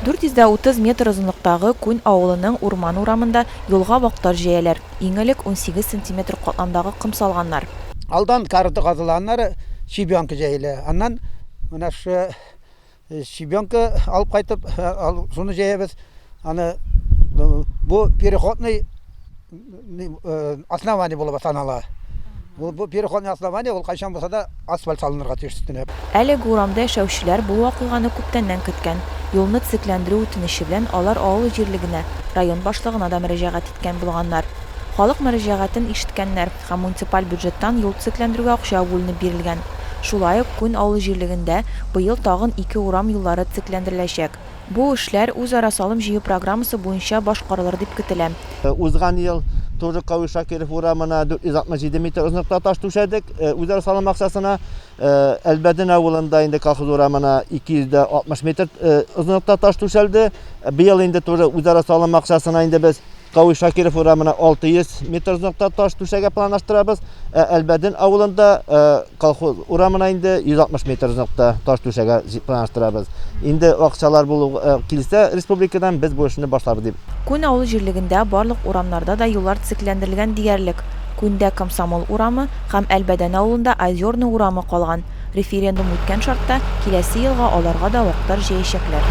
430 метр озынлыктагы Күн авылының урман урамында юлга вак-тар җәяләр, иң элек, унсигез сантиметр катламдагы ком салганнар. Алдан корыты казыла, аннары щебенка җәелә, аннан менә шы Щебенка алып кайтып, шуны җәябез. Аны бу переходный основание булып санала. Бу бу переходный основание ул кайчан булса да асфальт салынырга тиеш өстенә. Әлеге урамда яшәүчеләр бу вакыйганы күптәннән көткән. Юлны төзекләндерү үтенече белән алар авыл җирлегенә, район башлыгына да мөрәҗәгать иткән булганнар. Халык мөрәҗәгатен ишеткәннәр. Проект һәм муниципаль бюджеттан юл төзекләндерүгә акча бүленеп бирелгән. Шулай ук Күн авыл җирлегендә быел тагын ике урам юллары төзекләндереләчәк. Бу эшләр үзара салым җыю программасы буенча башкарылыр дип көтелә. Узган ел Турыкъави Шакиров урамына 467 метр озынлыкта таш түшәдек, үзара салым акчасына. Әлбәден авылында инде колхоз урамына 260 метр озынлыкта таш түшәлде. Быел инде туры үзара салым акчасына инде без Кавы Шакиров урамына 600 метр озынлыкта таш түшәгә планлаштырабыз. Әлбәдин авылында колхоз урамына инде 160 метр озынлыкта таш түшәгә планлаштырабыз. Инде акчалар булу килсә республикадан без бу эшне башларбыз дип Күн авыл җирлегендә барлык урамнарда да юллар төзекләндерелгән диярлек. Күндә Комсомол урамы һәм Әлбәдән авылында Озерный урамы калган. Референдум үткән шартта, киләсе елга аларга да вактар җәячәкләр.